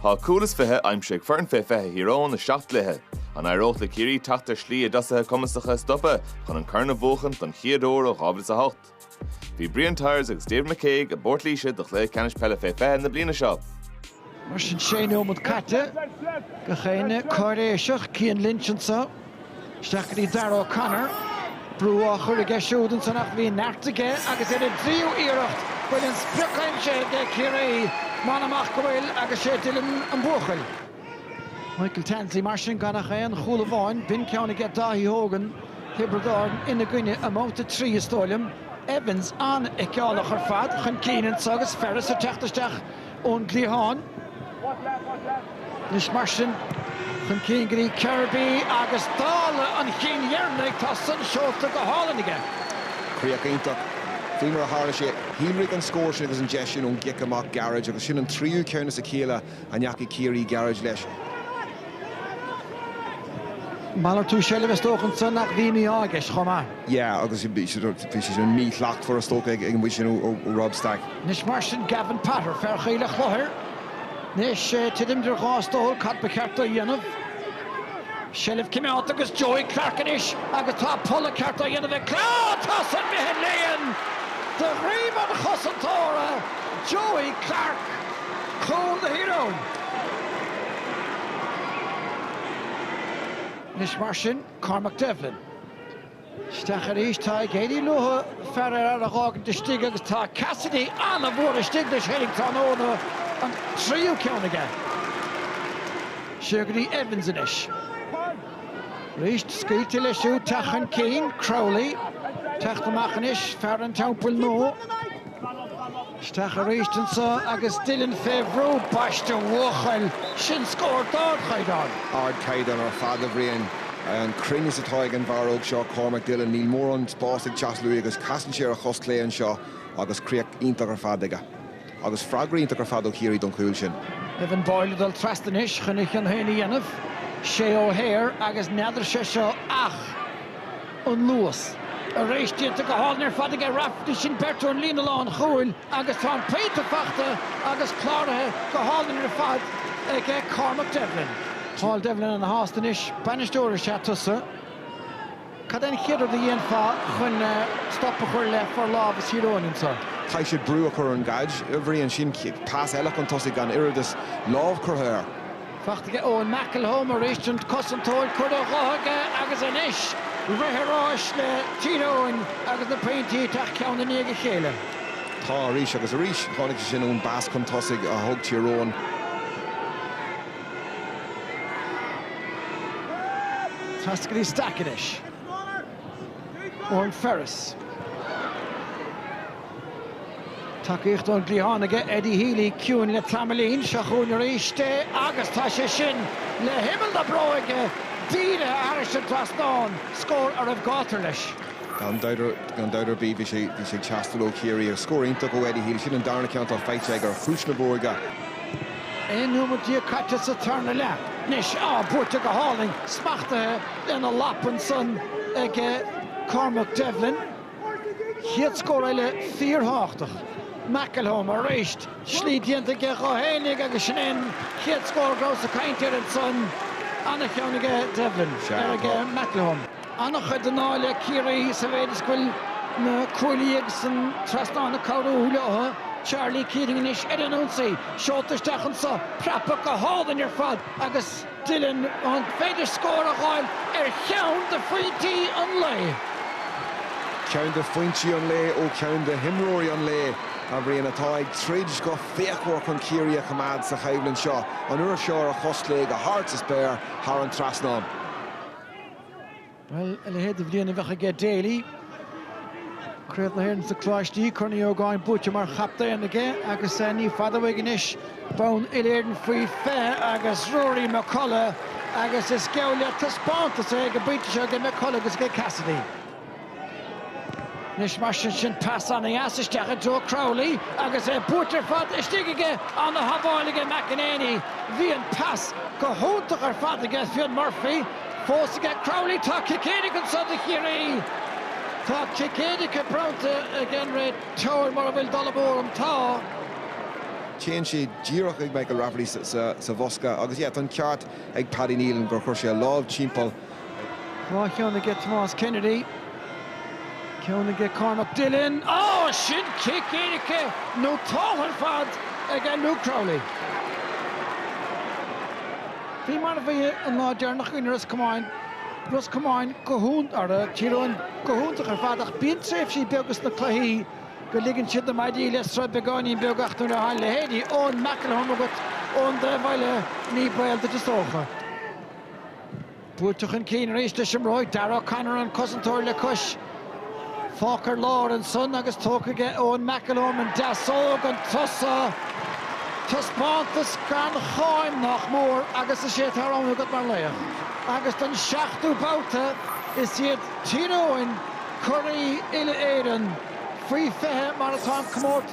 Tá cúl is fiche aimsithe ag foireann fé 20 Thír Eoghain i seacht gcluiche. An éireoidh le Ciarraí teacht ar shlí a dtosaithe cumasacha a stopadh chun an corn a bhuachan don chéad uair ó 2008? Bhí Brian Tyers agus David McCague i bPort Laoise do Chluiche Ceannais Peile fé 20 na bliana seo. Mar sin sé nóimead caite. Gach éinne cáiréiseach. Cian Lynch anseo. Isteach go dtí Darragh O'Connor. Brú á chur aige siúd ansan ach bhí neart aige agus ar an dtríú iarracht an bhfuil an sprioc aimsithe aige Ciarraí m'anam ach go bhfuil agus sé Dillon an buachaill. Michael Tansley mar sin gan ach aon chúl amháin. B'in ceann aige Dáithí Hogan, Thiobraid Árann ina gcoinne i mbabhta a trí is dóigh liom. Evans an-fheiceálach ar fad chun cinn anseo agus Ferris ag teacht isteach. ón gcliathán. Anois mar sin, chun cinn go dtí Kirby agus dála an chinn dheireanaigh tá san seolta go hálainn aige. Críoch iontach. Faoi mar a tharla sé, shíolraigh an scór sin agus an deis sin ón gcic amach gairid agus sin an tríú ceann as a chéile a ndeachaigh Ciarraí gairid leis. Malartú seilbhe is dócha ansan ach bhí mí-ádh i gceist chomh maith. yeah agus bhí sé sort bhí sé sin mí-shlachtmhar is dócha ag an bhfuaid sin ó Rob Stack. Anois mar sin Gavin Potter, fear Choill a' Chlochair, anois titim idir dhá stól cad ba cheart dó a dhéanamh? Seilbh cimeádta agus Joey Clarke anois agus tá polladh ceart á dhéanamh ag Clarke, tá san imithe 'on líon de dhroim an chosantóra Joey Clarke cúl do Thír Eoghain. Anois mar sin. Cormac Devlin, Isteach arís, tá ag éirí leothu fear ar fhear a dh'fhágaint istigh agus tá Cassidy an-mhór istigh leis féinig tráthnóna an tríú ceann aige. Siar go dtí Evans anois. Arís, scaoilte leis siúd teacht chun cinn, Crowley, teacht amach anois, fear an Teampaill Nua. Isteach arís anseo agus Dillon fé bhrú baiste a bhuachaill. Sin scór d'ardchaighdeán. Ardchaighdeán ar fad, a Bhriain. An cruinneas atá ag an bhfear óg seo, Cormac Dillon, níl mórán spáis ag teastáil uaidh agus casann sé ar a chos chlé anseo agus críoch iontach ar fad aige. Agus freagra iontach ar fad ó Chiarraí don chúl sin. Evan Boyle ag dul trasna anois chun a chion féin a dhéanamh. Shea O'Hare agus n'fheadar sé seo ach. an luas. Arís, déanta go hálainn ar fad aige Rafferty. Sin beirt ón líne lánchúil agus tá an pointe faighte agus cláraithe go hálainn ar fad aige Cormac Devlin. Paul Devlin ana shásta anois. Bainisteoir is ea tusa. Cad é an chéad rud a dhéanfá chun stop a chur le forlámhas Thír Eoghain anseo? Caithfidh siad brú a chur ar an gcaid, a Bhriain. Sin pas eile chun tosaigh gan oiread is lámh curtha air. Fachta aige Eoin McElholm arís an cosantóir curtha dho aige agus anois bhreith ar áis le Tír Eoghain agus na pointí ag teacht ceann i ndiaidh a chéile. Tá arís agus arís. Tháinig sé sin ón bpas chun tosaigh a thug Tír Eoghain. Trasna go dtí Stack anois Odhran Ferris. Tacaíocht ón gcliathán aige Eddie Healy, ciúin le tamaillín, seo chugainn arís é agus tá sé sin, le himeall na bróige, dírithe thairis an trasnán, scór a raibh gátar leis. Gan dabht ar bith, bhí sé ag teastáil ó Chiarraí agus scór iontach ó Eddie Healy. Sin an darna ceann atá faighte aige ar chiumhais na bróige. 11 nóimeat caite sa tarna leath anois. Á, buaite go hálainn, smachtaithe lena lapa ansan ag Cormac Devlin. Chéad scór eile fíorthábhachtach. McElholm arís. Slí déanta aige dhó féinig agus sin é an chéad scór go rabhas ag caint air ansan. Ana-cheann aige Devlin, ara aige McElholm. Ana-chuid den ádh le Ciarraí sa mhéid is go bhfuil na cuaillí agus an trasnán ag cabhrú leotha. Charlie Keating anois ar an ionsaí. Seolta isteach anso. Preabtha go hálainn ar fad agus. Dillon, an féidir scór a fháil ar cheann de phointí an lae? Ceann de phointí an lae ó cheann de himreoirí an lae, a Bhriain, atá ag troid go fíochmhar chun Ciarraí a choimeád sa choimhlint seo, an uair seo ar a chos chlé go hard sa spéir thar an trasnán. Bhuel, a leithéid de bhliain a bheadh aige Daly. Craobh na hÉireann sna Coláistí, Corn Uí Ógáin buaite mar chaptaen aige agus ní fada uaidh anois bonn uile-Éireann faoi 20 agus Ruairí McCullagh agus is geall le taispeántas é ag an bpointe seo aige McCullagh agus aige Cassidy. Anois mar sin, sin pas an-deas isteach i dtreo Crowley agus é buailte ar fad istigh aige. An-shábháil aige McAneney. Bhí an pas go hiontach ar fad aige Fionn Murphy. fós aige. Crowley, Tá cic éirice anso do Chiarraí. Tá cic éirice bronnta ag an réiteoir mura bhfuil dul amú orm. Tá. Téann sé díreach chuig Michael Rafferty sa bhosca agus yeah tá an ceart ag Paddy Neilan gur chuir sé a lámh timpeall. Dhá cheann aige Tomás Kennedy. Ceann aige Cormac Dillon. Oh sin cic éirice nótáilte ar fad aige Luke Crowley. Faoi mar a bhí an lá deireanach i gcoinne Ros Comáin, Ros Comáin go hionn, ara, Tír Eoghain go hiontach ar fad ach bíonn tréimhsí beaga sna cluichí go ligeann siad na maidí le sruth beagáinín beag ach nuair a thagann leithéidí Eoin McElholm agat ón dtaobh eile ní baol duit is dócha. Buailte chun cinn arís leis an mbróig, Darragh O'Connor an cosantóir le cois. Fágtha ar lár ansan agus tógtha aige Eoin McElholm an deasóg, an turas so. Taispeántas gan cháim, nách mór, agus is é atá roghnaithe agat mar laoch. Agus don seachtú babhta is iad Tír Eoghain curaí Uile-Éireann faoi 20 mar atá an comórtas.